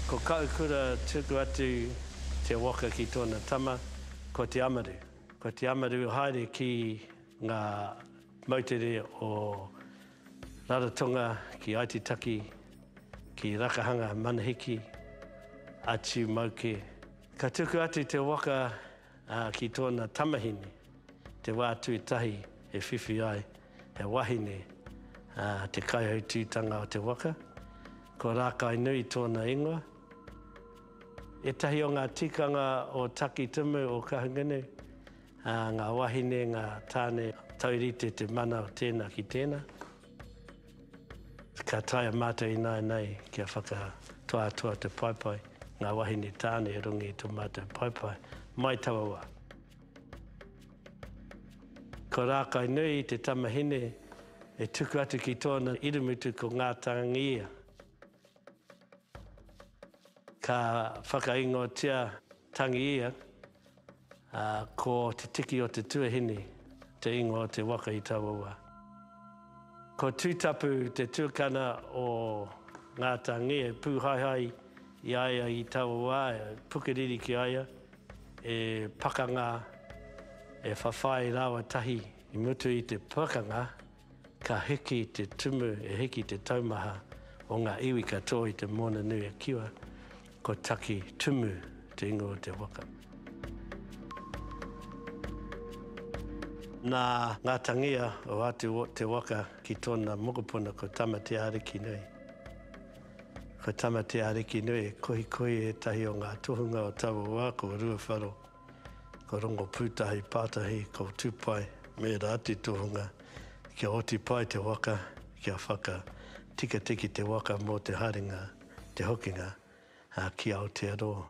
Ko Kaukura tuku atu te waka ki tona tama, ko Te Amaru. Ko Te Amaru haere ki nga moutere o Raratonga ki Aitutaki, ki Rakahanga, Manahiki, atu mauke. Ka tuku atu te waka Ā, ki tōna tamahine, te wā tuatahi e whiwhi ai he wahine, ā, te kaihautūtanga o te waka, ko Rākainui tōna ingoa. Ētahi o ngā tikanga o Takitimu o Kahungunu, ā, ngā wahine, ngā tāne, taurite te mana o tēnā ki tēnā. Ka taea mātou ināianei kia whakatoatoa te paepae, ngā wahine tāne e rongi i tō mātou paepae, mai taua wā. Ko Rākainui te tamahine e tuku atu ki tōna irumutu ko Ngātāngia. Ka whakaingotia Tangiia Ā, ko te tiki o te tuahine te ingoa o te waka i taua wā. Ko Tūtapu te tukana o Ngāta Nge, e pūhaehae i a ia i taua wā, e pukeriri ki a ia, e pakanga, e whawhai rāua tahi. I mutu i te pakanga, Ka hiki te tumu, e hiki te taumaha o ngā iwi katoa i te moana nui a Kiwa, ko Taki Tumu te ingoa o te waka. Nā ngā tangia o atu o te waka ki tōna mokopuna ko Tama-te-ārikinui. Ko Tama-te-ārikinui e kohikohi ētahi o ngā tohunga o taua wā ko Ruawharo, Ko Rongo Pūtahi Pātahi, ko Tupai me ērā atu tohunga kia oti pai te waka, kia whaka tikatiki te waka mō te haerenga, te hokinga ki Aotearoa.